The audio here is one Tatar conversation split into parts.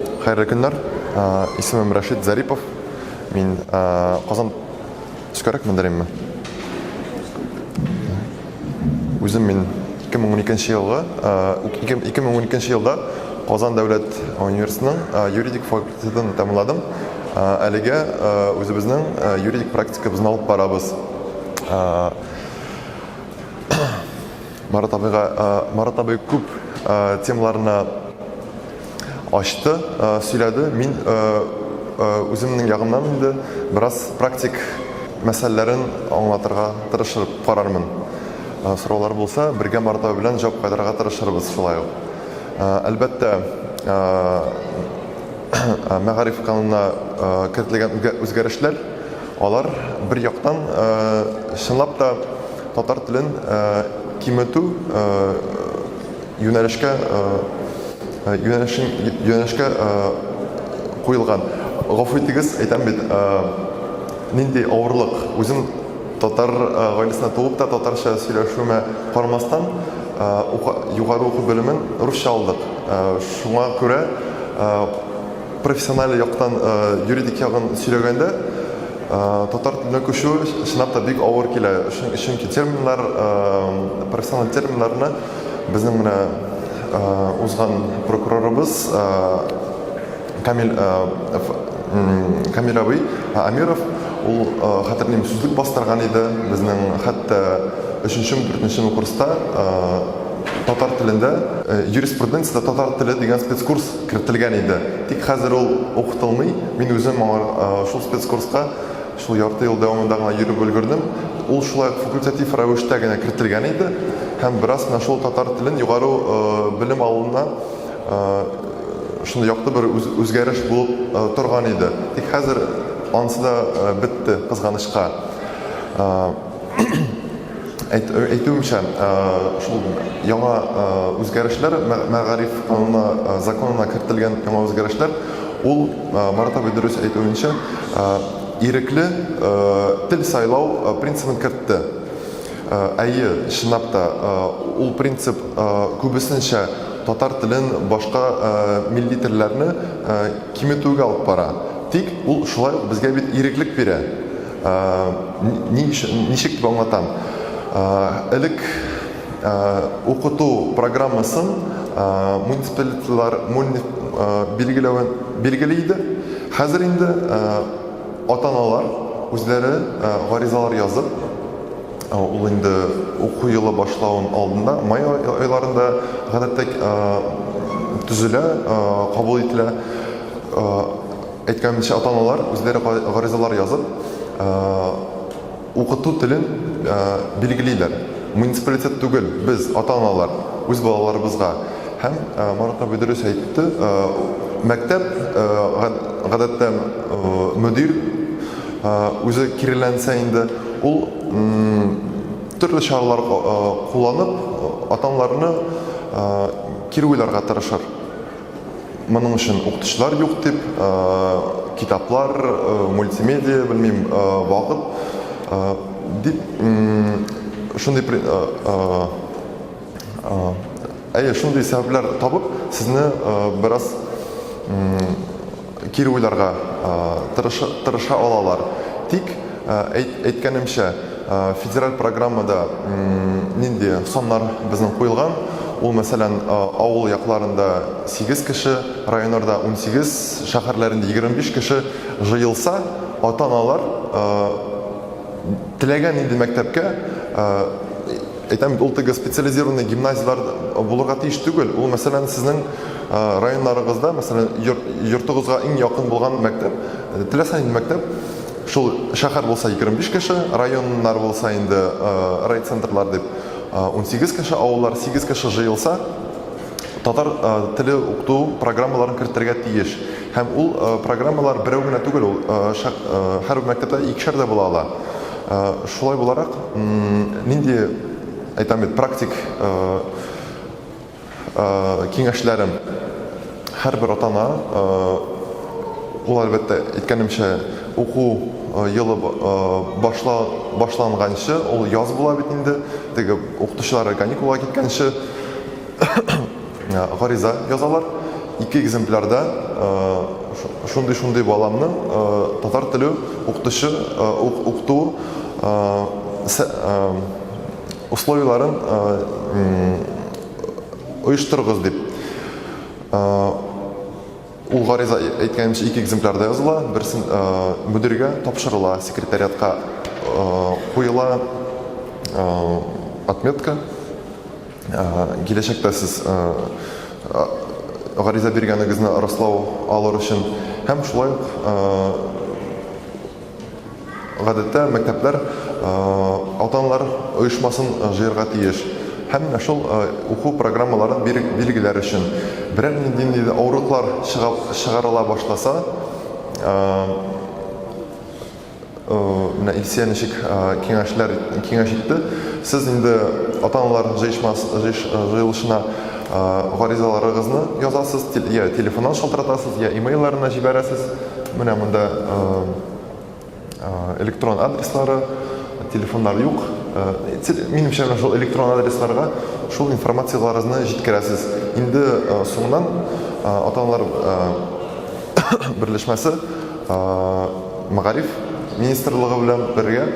Хәерле көннәр. Исемем Рәшит Зарипов. Мин Казан төскәрәк мендерәйме? Үзем мин 2012 елгы 2012 елда Казан дәүләт университетының юридик факультетын тәмамладым. Әлегә үзебезнең юридик практикабызны алып барабыз. Марат абыйга Марат абый күп темаларны ачты, сөйләде. Мин үземнең ягымнан инде бераз практик мәсьәләләрен аңлатырга тырышып карармын. Сораулар булса, бергә Марат абый белән җавап кайтарырга тырышырбыз шулай ук. Әлбәттә, мәгариф канунына кертелгән үзгәрешләр Алар, бер яктан, чынлап та татар телен киметү юнәлешкә юнәлешкә куелган. Гафу итегез, әйтәм бит, нинди авырлык. Үзем татар гаиләсендә туып та, татарча сөйләшүемә карамастан, югары уку белемен русча алдык. Шуңа күрә Профессиональ яктан юридик ягын сөйләгәндә, татар теленә күчү чынлап та бик авыр килә. Чөнки терминнар, профессиональ терминнарны безнең менә узган прокурорыбыз Камиль Камиль абый Амиров ул хәтерлим сүзлек бастырган иде. Безнең хәтта өченчеме, дүртенчеме курста татар телендә юриспруденциядә татар теле дигән спецкурс кертелгән иде. Тик хәзер ул укытылмый. Мин үзем аңа шул спецкурска шул ярты ел дәвамында гына йөреп өлгердем. Ул шулай ук факультатив рәвештә генә кертелгән иде һәм бераз менә шул татар телен югары белем алуына шундый якты бер үзгәреш булып торган иде. Тик хәзер анысы да бетте, кызганычка. Әйт, әйтүемчә, шул яңа үзгәрешләр, мәгариф кануна, законына кертелгән яңа үзгәрешләр, ул Марат абый дөрес әйтүенчә, ирекле тел сайлау принцибын кертте. Әйе, чынлап та, ул принцип күбесенчә татар телен, башка милли телләрне киметүгә алып бара. Тик ул шулай ук безгә бит иреклек бирә. Ничек дип аңлатам? Элек укыту программасын муниципалитетлар билгели иде. Хәзер инде ата-аналар үзләре гаризалар язып, ул инде уку елы башлауның алдында, май айларында гадәттә төзелә, кабул ителә. Әйткәнемчә, ата-аналар үзләре гаризалар язып, укыту телен билгелиләр. Муниципалитет түгел, без, ата-аналар, үз балаларыбызга. Һәм Марат абый дөрес әйтте, мәктәп, гадәттә, мөдир үзе киреләнсә инде, ул төрле чаралар кулланып, ата-аналарны кире уйларга тырышыр. Моның өчен укытучылар юк дип, китаплар, мультимедиа, белмим, вакыт дип шундый әйе, шундый сәбәпләр табып, сезне бераз кире уйларга тырыша алалар. Тик, әйткәнемчә, федераль программада нинди саннар безнең куелган, ул, мәсәлән, авыл якларында сигез кеше, районнарда унсигез, шәһәрләрендә егерме биш кеше җыелса, ата-аналар, Теләгән инде мәктәпкә, әйтәм бит, ул теге специализированный гимназияләр булырга тиеш түгел. Ул, мәсәлән, сезнең районнарыгызда, мәсәлән, йортыгызга иң якын булган мәктәп, теләсә нинди мәктәп, шул шәһәр булса 25 кеше, районнар булса инде райцентрлар дип 18 кеше, авыллар 8 кеше җыелса, татар теле укыту программаларын кертергә тиеш. Һәм ул программалар берәү генә түгел, ул һәрбер мәктәптә икешәр дә була ала. Шулай буларак, нинди, әйтәм бит, практик киңәшләрем, һәрбер ата-ана, ул, әлбәттә, әйткәнемчә, уку елы башланганчы, ул яз була бит инде, теге укытучылары каникулга киткәнче, Ә, гариза язалар. Ике экземплярда ә, шундый-шундый баламны ә, татар теле укытучы ә, укыту ә, ә, условияләрен ә, оештырыгыз дип. Ә, ул гариза әйткәнемчә ике экземплярда языла, берсен ә, мөдиргә тапшырыла, секретариатка ә, куела ә, отметка. киләчәктә сез гариза биргәнегезне раслау алыр өчен һәм шулай ук гадәттә мәктәпләр ата-аналар оешмасын җыярга тиеш. Һәм менә шул уку программаларын билгеләр өчен берәр нинди дә авырлыклар чыгарыла башласа, Э, менә Илсия ничек э, киңәшләр киңәш итте. Сез инде ата-аналар җыешмас җыеш, э, җыелышына гаризаларыгызны язасыз, я телефоннан шалтыратасыз, я имейлларына җибәрәсез. Менә монда электрон адреслары, телефоннар юк. Минемчә, менә шул электрон адресларга шул информацияләрегезне җиткерәсез. Инде соңыннан ата-аналар берләшмәсе Мәгариф министрлыгы белән бергә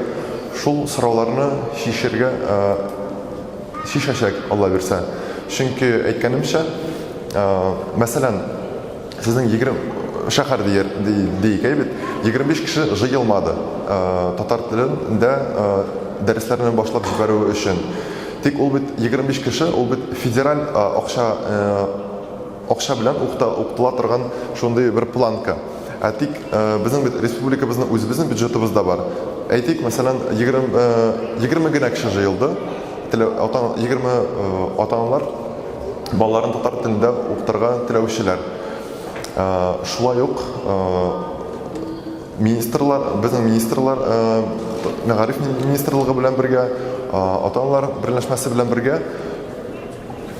шул сорауларны чишергә чишәчәк, Алла бирсә. Чөнки, әйткәнемчә, мәсәлән, сезнең егерме шәһәр диик, әйе бит, егерме биш кеше җыелмады татар телендә дәресләрне башлап җибәрү өчен. Тик ул бит егерме биш кеше, ул бит федераль акча Акча белән укта, укытыла торган шундый бер планка. Ә тик безнең бит республикабызның үзебезнең бюджетыбыз да бар. Әйтик, мәсәлән, 20, 20 генә кеше җыелды. Телә, ата, 20 ата-аналар балаларын татар телендә укытырга теләүчеләр. Шулай ук министрлар, безнең министрлар, мәгариф министрлыгы белән бергә, ата-аналар берләшмәсе белән бергә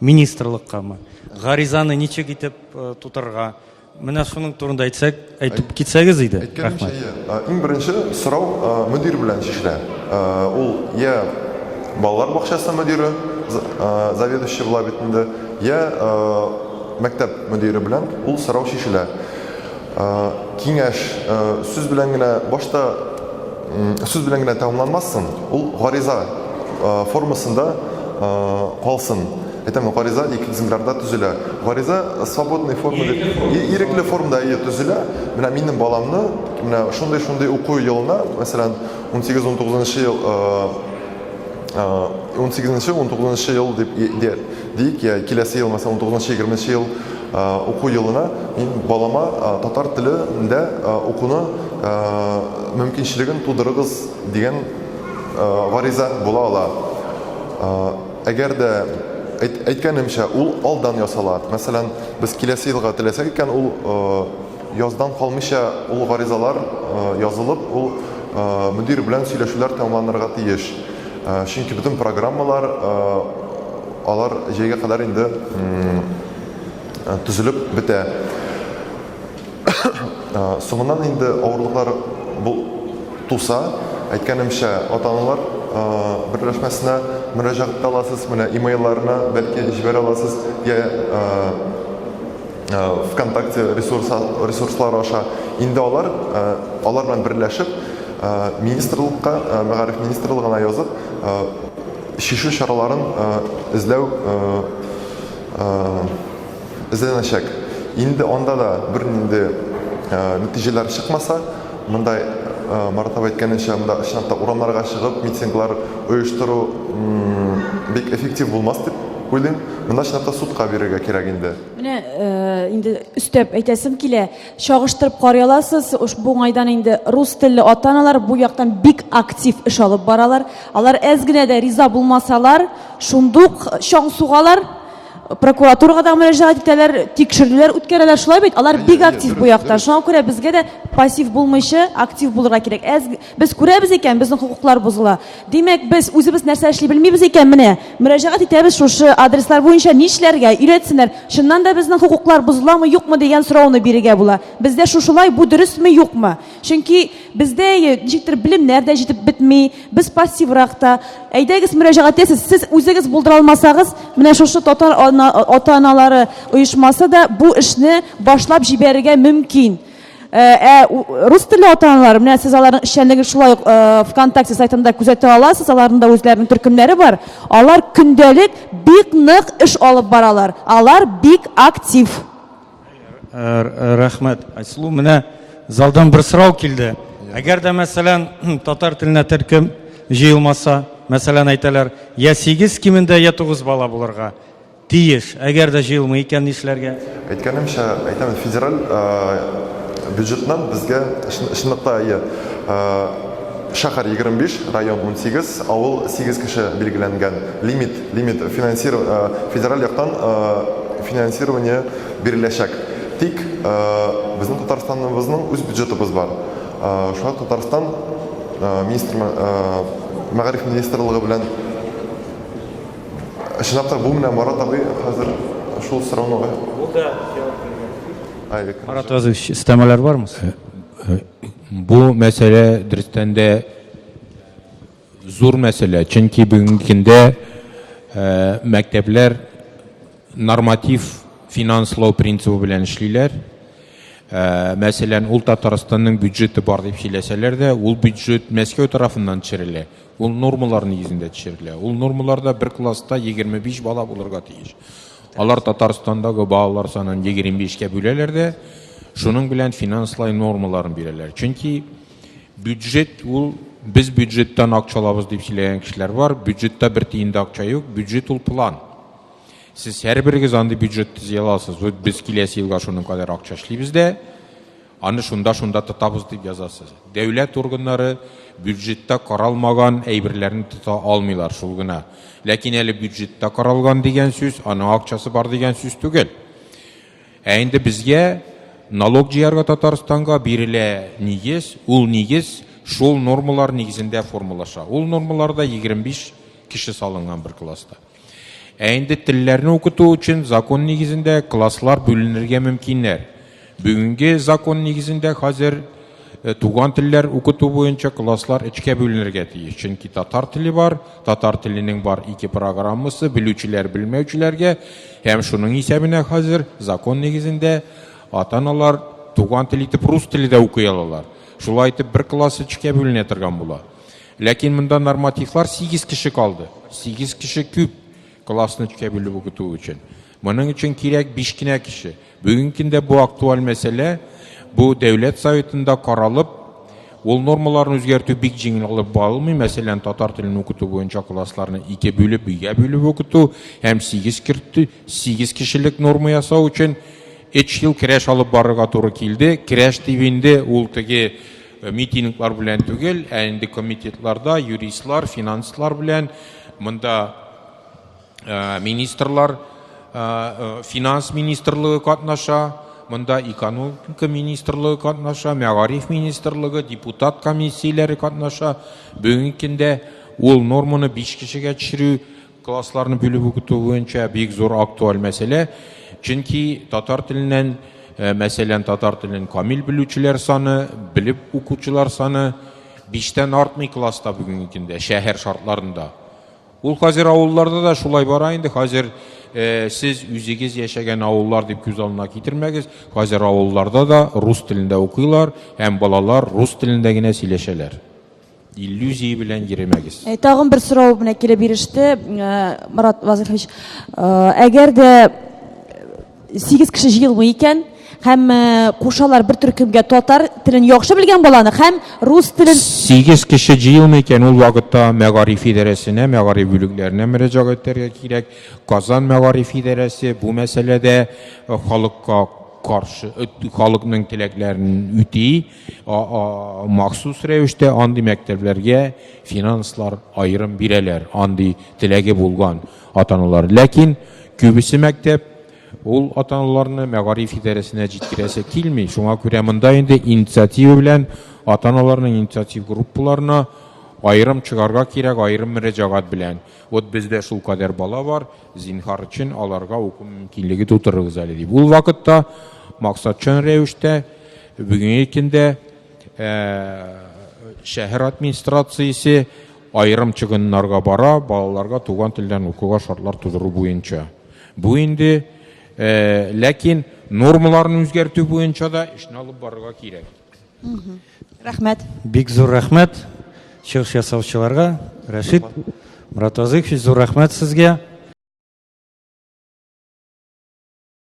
Министрлыккамы? Гаризаны ничек итеп э, тутырырга? Менә шуның турында әйтсәк, әйтеп китсәгез иде. Әйткәнемчә, Рәхмәт. иң беренче сорау э, мөдир белән чишелә. Э, ул я балалар бакчасы мөдире, э, заведующий була бит инде, я э, мәктәп мөдире белән ул сорау чишелә. Киңәш сүз белән генә башта сүз белән генә тәмамланмасын, ул гариза формасында калсын. Әйтәм, гариза ике экземплярда төзелә. Гариза свободный форма дип ирекле формада әйе төзелә. Менә минем баламны менә шундый-шундый уку елына, мәсәлән, 18-19 ел 18-19 ел дип Диик, киләсе ел, мәсәлән, унтугызынчы, егерменче ел уку елына мин балама татар телендә укуны мөмкинчелеген тудырыгыз дигән гариза була ала. Әгәр дә әйткәнемчә, ул алдан ясала. Мәсәлән, без киләсе елга теләсәк икән, ул Яздан калмыйча ул гаризалар язылып, ул мөдир белән сөйләшүләр тәмамланырга тиеш. Чөнки бөтен программалар алар җәйгә кадәр инде төзелеп бетә. Соңыннан инде авырлыклар туса, әйткәнемчә, ата-аналар берләшмәсенә мөрәҗәгать итә аласыз, менә имейлларына бәлки җибәрә аласыз, я ВКонтакте ресурслары аша. Инде алар, алар белән берләшеп, министрлыкка, мәгариф министрлыгына язып, шишу чараларын эзләү эзләнәчәк. Инде анда да бер нинди нәтиҗәләр чыкмаса, монда Марат абый әйткәненчә, монда чынлап та урамнарга чыгып, митинглар оештыру бик эффектив булмас дип уйлыйм. Монда чынлап та судка бирергә кирәк инде. Менә инде өстәп әйтәсем килә, чагыштырып карый аласыз, бу уңайдан инде рус телле ата-аналар бу яктан бик актив эш алып баралар. Алар әз генә дә риза булмасалар, шундук чаң сугалар, прокуратурага да мөрәҗәгать итәләр, тикшерүләр үткәрәләр. Шулай бит? Алар бик актив бу якта. Шуңа күрә безгә дә пассив булмыйча актив булырга кирәк. Әз Без күрәбез икән, безнең хокуклар бозыла. Димәк, без үзебез нәрсә эшли белмибез икән, менә, мөрәҗәгать итәбез шушы адреслар буенча нишләргә, өйрәтсеннәр, чыннан да безнең хокуклар бозыламы, юкмы дигән сорауны бирергә була. Бездә шушылай, бу дөресме, юкмы? Чөнки бездә ничектер белемнәр дә җитеп бетми, без пассиврак та. Әйдәгез, мөрәҗәгать итәсез, сез үзегез булдыра алмасагыз, менә шушы татар ата-аналары оешмасы да бу эшне башлап җибәрергә мөмкин. Ә рус телле ата-аналар, менә сез аларның эшчәнлеген шулай ук ВКонтакте сайтында күзәтә аласыз, аларның да үзләренең төркемнәре бар. Алар көндәлек бик нык эш алып баралар. Алар бик актив. Рәхмәт, Айсылу. Менә залдан бер сорау килде. Әгәр дә, мәсәлән, татар теленә төркем җыелмаса, мәсәлән, әйтәләр, я 8 кимендә, я 9 бала булырга. Тиеш. Әгәр дә җыелмый икән, нишләргә? Әйткәнемчә, әйтәм, федераль бюджетнан безгә, чынлап та, әйе, шәһәр 25, район 18, авыл 8 кеше билгеләнгән, лимит, лимит, федераль яктан финансирование биреләчәк. Тик безнең Татарстаныбызның үз бюджетыбыз бар. Шуңа Татарстан министры, мәгариф министрлыгы белән, Чынлап та бу менә Марат абый хәзер шул сорауны га- Ул да җавап биргән. Ай, элекке Марат хәзер. Разыевич, өстәмәләр бармы? Бу мәсьәлә дөрестән дә зур мәсьәлә, чөнки бүгенге көндә э, мәктәпләр норматив финанслау принцибы белән эшлиләр. Э, мәсәлән, ул Татарстанның бюджеты бар дип сөйләсәләр дә, ул бюджет Мәскәү тарафыннан төшерелә. Ул нормалар нигезендә төшерелә. Ул нормаларда бер класста 25 бала булырга тиеш. Алар Татарстандагы балалар санын 25-кә бүләләр дә, шуның белән финанслай нормаларын бирәләр. Чөнки бюджет ул без бюджеттан акча алабыз дип сөйләгән кешеләр бар. Бюджетта бер тиен дә акча юк. Бюджет ул план. Сез һәрберегез андый бюджет төзи аласыз. Вот без киләсе елга шуның кадәр акча эшлибез дә, Аны шунда-шунда тотабыз дип язасыз. Дәүләт органнары бюджетта каралмаган әйберләрне тота алмыйлар, шул гына. Ләкин әле бюджетта каралган дигән сүз, аның акчасы бар дигән сүз түгел. Ә инде безгә налог җыярга Татарстанга бирелә нигез, ул нигез шул нормалар нигезендә формалаша. Ул нормаларда 25 кеше салынган бер класста. Ә инде телләрне укыту өчен закон нигезендә класслар бүленергә мөмкиннәр. Бүгенге закон нигезендә хәзер э, туган телләр укыту буенча класслар өчкә бүленергә тиеш. Чөнки татар теле бар, татар теленең бар ике программасы, белүчеләр белмәүчеләргә һәм шуның исәбенә хәзер закон нигезендә ата-аналар туган тел итеп рус теле дә укый алалар. Шулай итеп бер класс өчкә бүленә торган була. Ләкин монда нормативлар сигез кеше калды. Сигез кеше күп классны өчкә бүлеп укыту өчен. Моның өчен кирәк биш кенә кеше. Бүгенге көндә бу актуаль мәсьәлә, бу Дәүләт Советында каралып, ул нормаларны үзгәртү бик җиңел алып барылмый. Мәсәлән, татар телен укыту буенча классларны ике бүлеп, өйгә бүлеп укыту һәм сигез кертү, сигез кешелек норма ясау өчен өч ел керәш алып барырга туры килде. Керәш дип инде ул теге Митинглар белән түгел, ә инде комитетларда юристлар, финанслар белән монда э, министрлар, э, э, финанс министрлыгы катнаша, монда экономика министрлыгы катнаша, мәгариф министрлыгы, депутат комиссияләре катнаша. Бүгенге көндә ул норманы биш кешегә төшерү Классларны бүлеп укыту буенча бик зур актуаль мәсьәлә, чөнки татар теленнән, э, мәсәлән, татар телен камил белүчеләр саны, белеп укучылар саны биштән артмый класста бүгенге көндә шәһәр шартларында. Ул хәзер авылларда да шулай бара инде. Хәзер э, сез үзегез яшәгән авыллар дип күз алдына китермәгез. Хәзер авылларда да рус телендә укыйлар һәм балалар рус телендә генә сөйләшәләр. Иллюзия белән йөремәгез. Э, тагын бер сорау менә килеп иреште, э, Марат Вазыхович. Э, әгәр дә сигез кеше җыелмый икән, һәм кушалар бер төркемгә татар телен яхшы белгән баланы һәм рус телен Сигез кеше җыелмый икән, ул вакытта мәгариф идарәсенә, мәгариф бүлекләренә мөрәҗәгать итәргә кирәк. Казан мәгариф идарәсе бу мәсьәләдә халыкка каршы халыкның теләкләрен үти. махсус рәвештә андый мәктәпләргә финанслар аерым бирәләр, андый теләге булган атаналар. Ләкин күбесе мәктәп ул атаналарны мәгариф идарәсенә җиткерәсе килми. Шуңа күрә монда инде инициатива белән атаналарның инициатив группаларына аерым чыгарга кирәк, аерым мөрәҗәгать белән. Вот бездә шулкадәр бала бар, Зинһар өчен аларга уку мөмкинлеге тутырыгыз әле дип. Ул вакытта максатчан рәвештә бүгенге көндә ә, шәһәр администрациясе айрым чыгыннарга бара балаларга туган телдән укуга шартлар тудыру буенча. Бу инде ә, ләкин нормаларын үзгәртү буенча да эшне алып барырга кирәк. Рәхмәт. Бик зур рәхмәт чыгыш ясаучыларга. Рәшит Муратвазыйкович, зур рәхмәт сезгә.